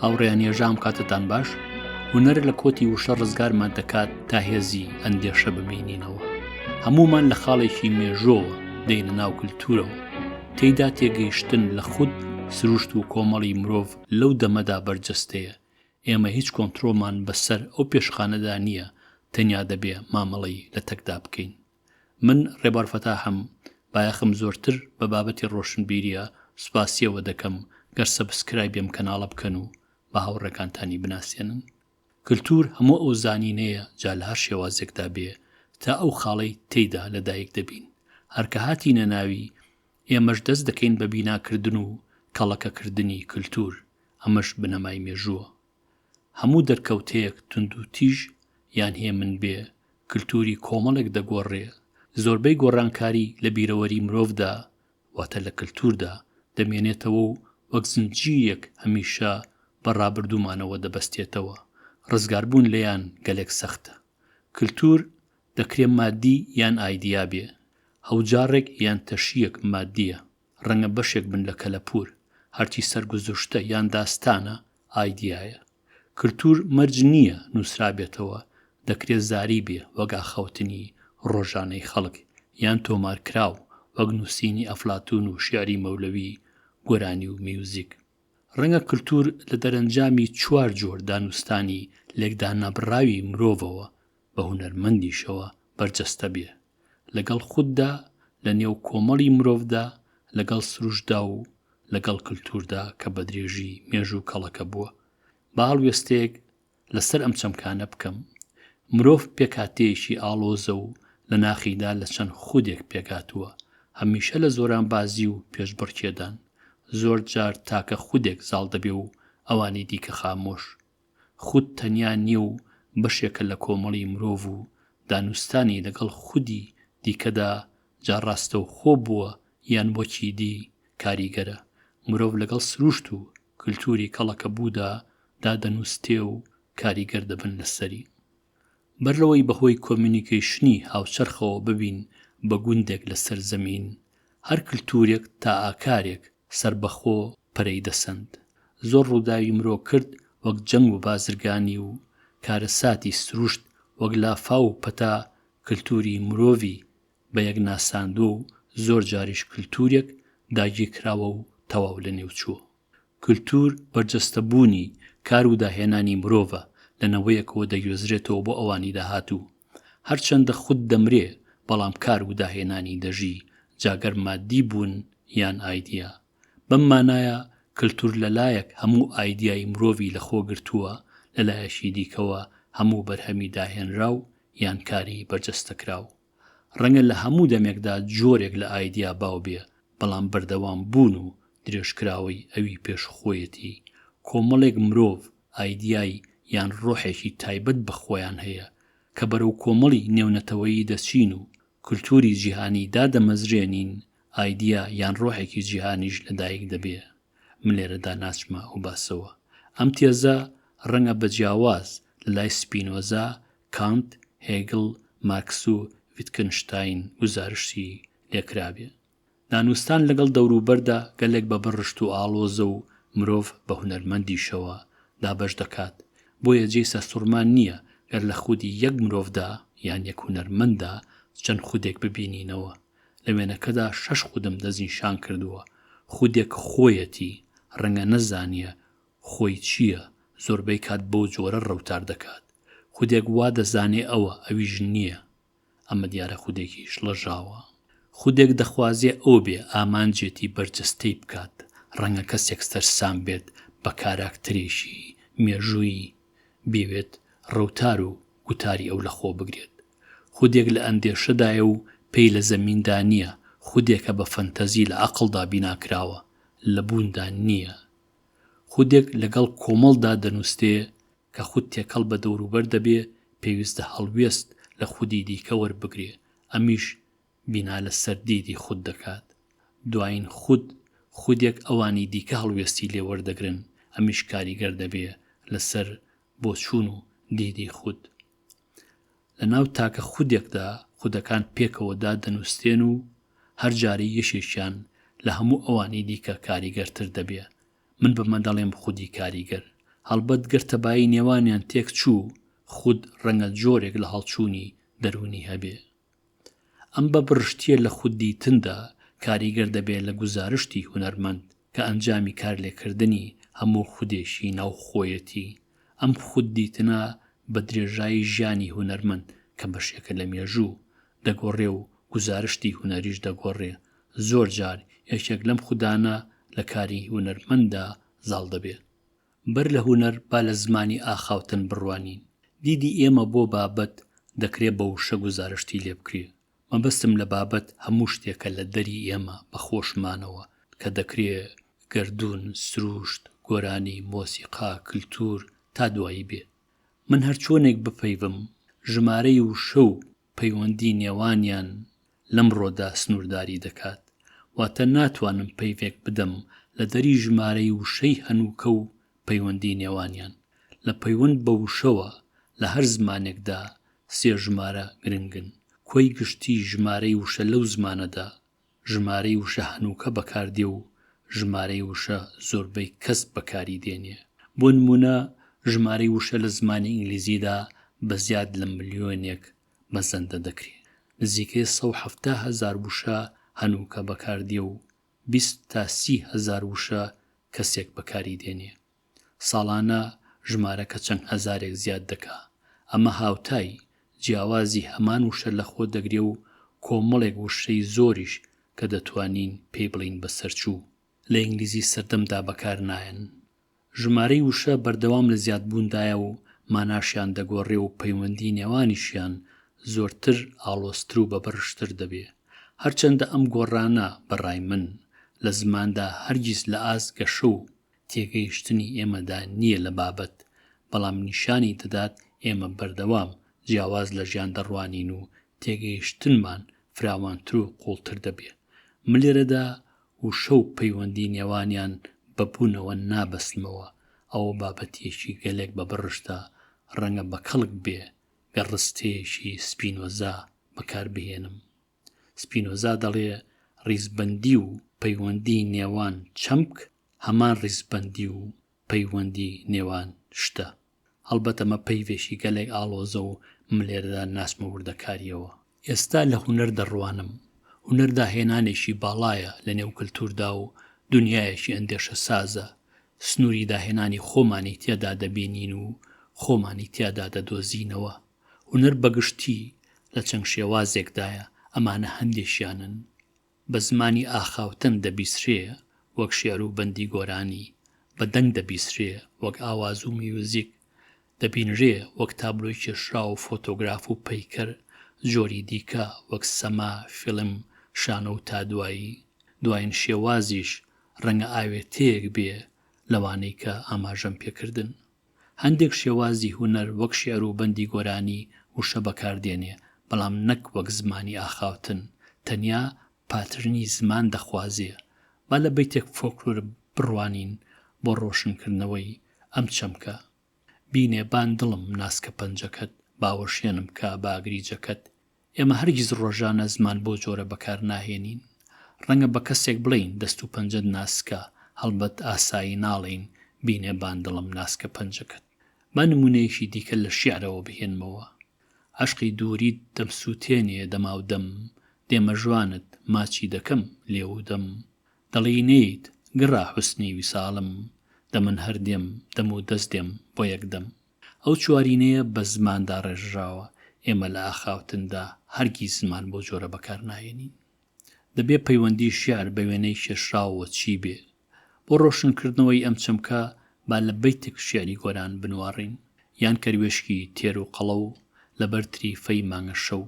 هاوڕێیان یێژام کاتتان باش هوەر لە کۆتی وشە ڕزگارمان دەکات تا هێزی ئەندێشە ببینینەوە هەمومان لە خاڵێکی مێژۆوە دێنە ناو کللتورەوە تێیدا تێگەیشتن لە خود سروشت و کۆمەڵی مرۆڤ لەو دەمەدا بەرجەستەیە ئێمە هیچ کۆنترۆڵمان بە سەر ئەو پێشخانەدا نییە تەنیا دەبێ مامەڵەی لە تەکدا بکەین. من ڕێبوار فەتاحم بایەخم زۆرتر بە بابەتی ڕۆشنبیریە سوپاسیەوە دەکەم گەر سەبسکرایبی ئەم کەناڵە بکەن و بە هاوڕێکانتانی بناسێنن. کلتور هەموو ئەو زانینەیە جا لە هەر شێوازێکدا بێ تا ئەو خاڵەی تێیدا لە دایک دەبین هەر کە هاتینە ناوی ئێمەش دەست دەکەین بە بیناکردن و کەڵەکەکردنی کلتور، ئەمەش بنەمای مێژووە. هەموو دەرکەوتەیەک توندوتیژ یان هێمن بێ، کلتوری کۆمەڵێک دەگۆڕێ، زۆربەی گۆڕانکاری لە بیرەوەری مرۆڤدا، واتە لە کلتوردا، دەمێنێتەوە و وەک زنجیرێک هەمیشە بە ڕابردوومانەوە دەبەستێتەوە، ڕزگاربوون لێیان گەلێک سەختە. کلتور دەکرێ مادی یان ئایدیا بێ، هەوجاڕێک یان تەشییەک مادییە، ڕەنگە بەشێک بن لە کەلەپوور، هەرچی سەرگوزشتە یان داستانە ئایدیایە. کلتوور مەرج نییە نووسرابێتەوە، دەکرێ زاری بێ وەک ئاخاوتنی ڕۆژانەی خەڵک، یان تۆمارکراو وەک نووسینی ئەفلاتوون و شیعری مەولەوی، گۆرانی و میوزیک. ڕەنگە کلتوور لە دەرەنجامی چوار جۆر دانوستانی لێکدانەبڕاوی مرۆڤەوە بە هونەرمەندیشەوە بەرجەستە بێ لەگەڵ خوددا لە نێو کۆمەڵی مرۆڤدا لەگەڵ سروشتدا و لەگەڵ کلتوردا کە بە درێژی مێژوو کەڵەکە بووە با هەڵوێستەیەک لەسەر ئەم چەمکانە بکەم مرۆڤ پێکاتەیەکی ئاڵۆزە و لە ناخیدا لە چەند خودێک پێکاتووە هەمیشە لە زۆران بازی و پێشبڕکێدان زۆر جار تاکە خودێک زاڵ دەبێ و ئەوانی دیکە خامۆش خود تەنیا نییە و بەشێکە لە کۆمەڵی مرۆڤ و دانوستانی لەگەڵ خودی دیکەدا جا ڕاستەوخۆ بووە یان وەکی دی کاریگەرە. مرۆڤ لەگەڵ سروشت و کلتوری کەڵەکەبوودا دا دەنوستێ و کاریگەر دەبن لەسەری. بەر لەوەی بەهۆی کۆمیونیکەیشنی هاوچەرخەوە ببین بە گوندێک لەسەر زەمین، هەر کلتورێک تا ئاکارێک سەربەخۆ پەرەی دەسەند. زۆر ڕووداوی مرۆ کرد وەک جەنگ و بازرگانی و کارەساتی سروشت وەک لافاو و پەتا کلتووری مرۆڤی بە یەک ناساندووە و زۆر جاریش کلتوورێک داگیر کراوە و تەواو لە نێو چووە. کلتوور بەرجەستە بوونی کار و داهێنانی مرۆڤە لە نەوەیەکەوە دەگوێزرێتەوە بۆ ئەوانی داهاتوو. هەرچەندە خود دەمرێ بەڵام کار و داهێنانی دەژی جا گەر ماددی بوون یان ئایدیا. بەم مانایە کلتور لە لایەک هەموو ئایدیای مرۆڤی لە خۆ گرتووە لە لایەکی دیکەوە هەموو بەرهەمی داهێنراو یان کاری بەرجەستەکراو. ڕەنگە لە هەموو دەمێکدا جۆرێک لە ئایدیا باو بێ بەڵام بەردەوام بوون و درێژکراوەی ئەوی پێش خۆیەتی کۆمەڵێک مرۆڤ ئایدیای یان ڕۆحێکی تایبەت بە خۆیان هەیە کە بەرەو کۆمەڵی نێونەتەوەیی دەچین و کولتووری جیهانی دادەمەزرێنین، ئایدیا یان ڕۆحێکی جیهانیش لەدایک دەبێ. من لێرەدا ناچمە ئەو باسەوە. ئەم تێزە ڕەنگە بە جیاواز لە لای سپینۆزا، کانت، هێگڵ، مارکس و ڤیتکنشتاین گوزارشتی لێ کرابێ. نانوستان لەگەڵ دەوروبەردا گەلێک بە بڕ رشت و ئاڵۆزە و مرۆڤ بە هونەرمەندیشەوە دابەش دەکات، بۆیە جێی سەرسوڕمان نییە گەر لە خودی یەک مرۆڤدا یان یەک هونەرمەنددا چەند خودێک ببینینەوە. لە وێنەکەدا شەش خودم دەستنیشان کردووە، خودێک خۆیەتی، رەنگە نەزانیە خۆی چییە، زۆربەی کات بەو جۆرە رەوتار دەکات. خودێک وا دەزانێ ئەوە، ئەویش نییە. ئەمە دیارە خودێکی شڵەژاوە، خودێک دەخوازێ ئەو بێ ئامانجێتی بەرجەستەی بکات، ڕەنگە کەسێک سەرسام بێت بە کاراکتەرێکی مێژوویی، بیەوێت ڕەوتار و گوتاری ئەو لە خۆ بگرێت. خودێک لە ئەندێشەدایە و پێی لە زەمیندا نییە، خودێکە بە فەنتەزی لە عەقڵدا بیناکراوە، لە بووندا نییە. خودێک لەگەڵ کۆمەڵدا دەنووستێ کە خود تێکەڵ بە دەوروبەر دەبێ، پێویستە هەڵوێست لە خودی دیکە وەربگرێ، ئەمیش بینا لەسەر دیدی خود دەکات. دوایین خود، خودێک ئەوانی دیکە هەڵوێستی لێ وەردەگرن، ئەمیش کاریگەر دەبێ لەسەر بۆچوون و دیدی خود. لە ناو تاکە خودێکدا خودەکان پێکەوە دادەنووسترێن و هەر جارەی یشێکیان لە هەموو ئەوانی دیکە کاریگەرتر دەبێ. من بەمە دەڵێم خودی کاریگەر. هەڵبەت گەر تەبایی نێوانیان تێک چوو، خود ڕەنگە جۆرێک لە هەڵچوونی دەروونی هەبێ. ئەم بە بڕشتییە لە خود دیتندا کاریگەر دەبێ لە گوزارشتی هونەرمەند کە ئەنجامی کارلێکردنی هەموو خودێکی ناوخۆیەتی. ئەم خود دیتنە بە درێژایی ژیانی هونەرمەند کە بەشێکە لە مێژوو، دەگۆڕێ و گوزارشتی هونەریش دەگۆڕێ، زۆر جار یەکێک لەم خودانە لە کاری هونەرمەنددا زاڵ دەبێ. بەر لە هونەر با لە زمانی ئاخاوتن بڕوانین. دیدی ئێمە بۆ بابەت دەکرێ بە وشە گوزارشتی لێ بکرێ، مەبەستم لە بابەت هەموو شتێکە لە دەری ئێمە بە خۆشمانەوە کە دەکرێ گەردوون، سرووشت، گۆرانی، مۆسیقا، کلتوور تا دوایی بێ. من هەر چۆنێک بپەیڤم ژمارەی وشە و پەیوەندی نێوانیان لەمڕۆدا سنوورداری دەکات. واتە ناتوانم پەیڤێک بدەم لە دەری ژمارەی وشەی هەنووکە و پەیوەندی نێوانیان، لە پەیوەند بە وشەوە لە هەر زمانێکدا سێ ژمارە گرنگن، کۆی گشتی ژمارەی وشە لەو زمانەدا، ژمارەی وشە هەنووکە بەکاردێ و ژمارەی وشە زۆربەی کەس بەکاری دێنێ. بۆ نموونە ژمارەی وشە لە زمانی ئینگلیزیدا بە زیاد لە ملیۆنێک مەزەندە دەکرێ. نزیکەی سەد و حەفتا هەزار وشە هەنووکە بەکاردێ و بیست تا سی هەزار وشە کەسێک بەکاری دێنێ ساڵانە ژمارەکە چەند هەزارێک زیاد دەکا ئەمە هاوتای جیاوازی هەمان وشە لەخۆ دەگرێ و کۆمەڵێک وشەی زۆریش کە دەتوانین پێی بڵێین بەسەرچوو لە ئینگلیزی سەردەمدا بەکار نایەن ژمارەی وشە بەردەوام لە زیادبووندایە و ماناشیان دەگۆڕێ و پەیوەندی نێوانیشیان زۆرتر ئاڵۆزتر و بەبڕشتر دەبێ. هەرچەندە ئەم گۆڕانە بە ڕای من لە زماندا هەرگیز لە ئاست گەشە و تێگەیشتنی ئێمەدا نییە لە بابەت، بەڵام نیشانی دەدات ئێمە بەردەوام جیاواز لە ژیان دەڕوانین و تێگەیشتنمان فراوانتر و قووڵتر دەبێ. ملێرەدا وشە و پەیوەندی نێوانیان بە بوونەوە نابەستمەوە، ئەوە بابەتیەکی گەلێک بە بڕشتە، ڕەنگە بە کەڵک بێ گەر ڕستەیەکی سپینۆزا بەکار بهێنم. سپینۆزا دەڵێ ڕیزبەندی و پەیوەندی نێوان چەمک هەمان ڕیزبەندی و پەیوەندی نێوان شتە. هەڵبەتە مە پەیڤێکی گەلێک ئاڵۆزە و من لێرەدا ناچمە وردەکارییەوە. ئێستا لە هونەر دەڕوانم. هونەر داهێنانێکی باڵایە لە نێو کلتووردا و دونیایەکی ئەندێشەسازە. سنووری داهێنانی خۆمانی تێدا دەبینین و خۆمانی تیادا دەدۆزینەوە. هونەر بە گشتی لە چەند شێوازێکدایە، ئەمانە هەندێکیانن. بە زمانی ئاخاوتن دەبیسرێ وەک شێعر و بەندی گۆرانی، بە دەنگ دەبیسرێ وەک ئاواز و میوزیک، دەبینرێ وەک تابلۆی کێشراو و فۆتۆگراف و پەیکەر، جۆری دیکە وەک سەما، فیلم، شانۆ و تا دوایی. دوایین شێوازیش ڕەنگە ئاوێتەیەک بێ لەوانەی کە ئاماژەم پێ کردن. هەندێک شێوازی هونەر وەک شیعر و بەندی گۆرانی وشە بەکار دێنێ، بەڵام نەک وەک زمانی ئاخاوتن، تەنیا پاترنی زمان دەخوازێ. با لە بەیتێک فۆلکلۆر بڕوانین بۆ ڕۆشن کردنەوەی ئەم چەمکە. بینێ بان دڵم ناسکە پەنجەکەت، باوەشێنم کا بە ئاگری جەکەت، ئێمە هەرگیز ڕۆژانە زمان بۆ جۆرە بەکار ناهێنین. ڕەنگە بە کەسێک بڵێین، دەست و پەنجەت ناسکە، هەڵبەت ئاسایی ناڵێین، بینێ باندڵم ناسکە پەنجەکەت. با نموونەیەکی دیکە لە شیعرەوە بهێنمەوە. عەشقی دووریت دەمسووتێنێ دەماودەم، دێمە ژوانت، ماچی دەکەم، لێو و دەم. دەڵێی نێیت، گڕە حوسنی ویساڵم، دەمن هەر دێم، دەم و دەست دێم، بۆ یەکدەم. ئەو چوارینەیە بە زمان داڕێژراوە، ئێمە لە ئاخاوتندا هەرگیز زمان بەو جۆرە بەکار ناهێنین. دەبێ پەیوەندی شیعر بە وێنەی کێشراوەوە چی بێ؟ بۆ ڕۆشنکردنەوەی ئەم چەمکە با لە بەیتک شیعری گۆران بنواڕین، یان کەروێشکی تێر و قەڵە و لە بەر تریفەی مانگە شەو.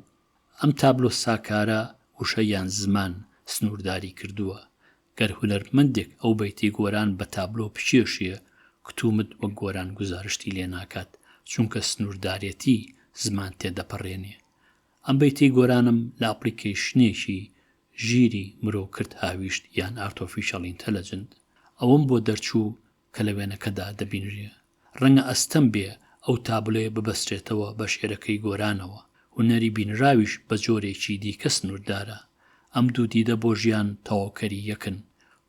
ئەم تابلۆ ساکارە وشە یان زمان سنوورداری کردووە، گەر هونەرمەندێک ئەو بەیتەی گۆران بە تابلۆ بکێشێ، کتومت وەک گۆران گوزارشتی لێ ناکات، چونکە سنووردارێتی زمان تێدەپەڕێنێ. ئەم بەیتەی گۆرانم لە ئەپڵیکەیشنێکی ژیری مرۆ کرد هاویشت یان ئارتۆفیشەڵ ئینتەلەجنت. ئەوەم بۆ دەرچوو کە لە وێنەکەدا دەبینرێ. ڕەنگە ئەستەم بێ ئەو تابلۆیە ببەسترێتەوە بە شعرەکەی گۆرانەوە. هونەری بینراویش بە جۆرێکی دیکە سنووردارە. ئەم دوو دیدە بۆ ژیان تەواوکەری یەکن.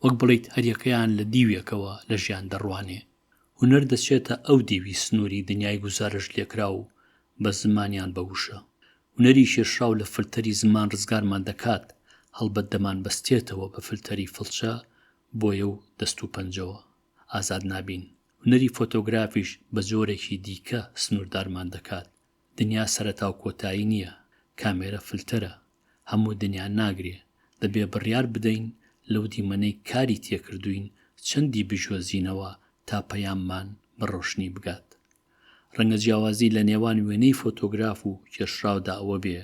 وەک بڵێیت هەریەکەیان لە دیوێکەوە لە ژیان دەڕوانێ. هونەر دەچێتە ئەو دیوی سنووری دنیای گوزارشتلێکراو و بە زمان یان بە وشە. هونەری کێشراو لە فلتەری زمان ڕزگارمان دەکات، هەڵبەت دەمانبەستێتەوە بە فلتەری فڵچە بۆیە و دەست و پەنجەوە ئازاد نابین، هونەری فۆتۆگرافیش بە جۆرێکی دیکە سنووردارمان دەکات، دنیا سەرەتا و کۆتایی نییە، کامێرە فلتەرە، هەموو دنیا ناگرێ، دەبێ بڕیار بدەین لەو دیمەنەی کاری تێکردووین چەندی بجۆزینەوە تا پەیاممان بە ڕۆشنی بگات. ڕەنگە جیاوازی لە نێوان وێنەی فۆتۆگراف و کێشراودا ئەوە بێ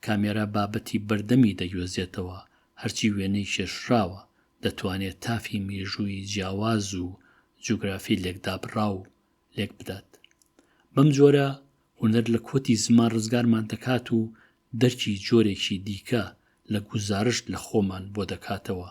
کامێرا بابەتی بەردەمی دەگوێزێتەوە، هەرچی وێنەی کێشراوە، دەتوانێت تافی مێژوویی جیاواز و جوگرافی لێکدابڕاو لێک بدات. بەم جۆرە هونەر لە کۆتی زمان ڕزگارمان دەکات و دەرکی جۆرێکی دیکە لە گوزارشت لە خۆمان بۆ دەکاتەوە.